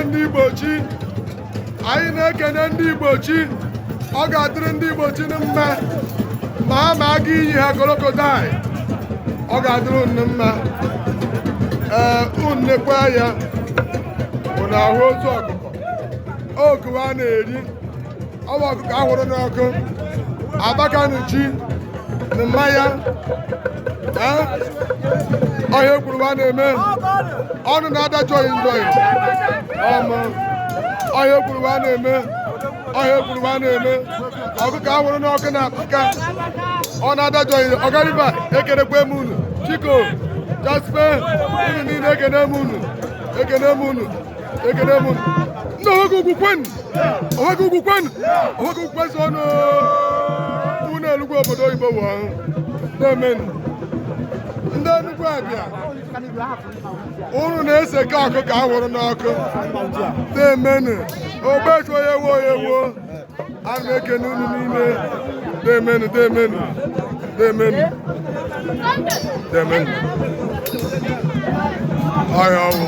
ndị Igbo chi anyị na-ekene ndị Igbo chi ọ ga-adịrị ndị Igbo chi na mma ma ha ma aga iyi ha crocodile ọ ga-adịrị unu mma ee unu nekwa ya unu ahụ ozu ọkụkọ okuwa na-eri ọwa ọkụkọ ahụrụ n'ọkụ abakanuchi na mmanya ọhịa ekwuru a na-eme ọnụ na-adajọghị njọghị ọma ọhịa ekwuru a na-eme ọhịa ekwuru a na-eme ọkụkọ ahụrụ n'ọkụ na apaka ọ na-adajọghị ọgariba ekenekwa m unu Chiko Jasper unu niile ekene m unu ekene m unu ekene m unu Oweke ugwu kwenụ Oweke ugwu kwenu Oweke ugwu kwezuonụ unu Enugwu obodo oyibo wụ ọhụ na-emenụ ndị Enugu abịa unu na-esi ka ọkụkọ ahụrụ n'ọkụ na-emenụ ogbechu onye wo onye wo ana m ekene unu niile na-emenụ na-emenụ na-emenụ na-emenụ ọhịa ọnwụ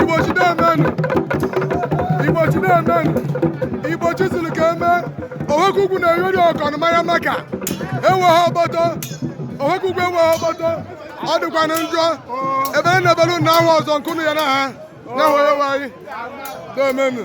Igbo chi na-emenụ Igbo chi na-emenụ Igbo chi siri ka eme Oweke ugwu na-eyori ọkọnụ manya maka ewe ha ọgbọtọ Oweke ugwu ewe ha ọgbọtọ ọ dịkwanụ njọ ebe a na-ebelu na ahụ ọzọ nke unu ya na ha na-ahụ onye nwe anyị na-emenụ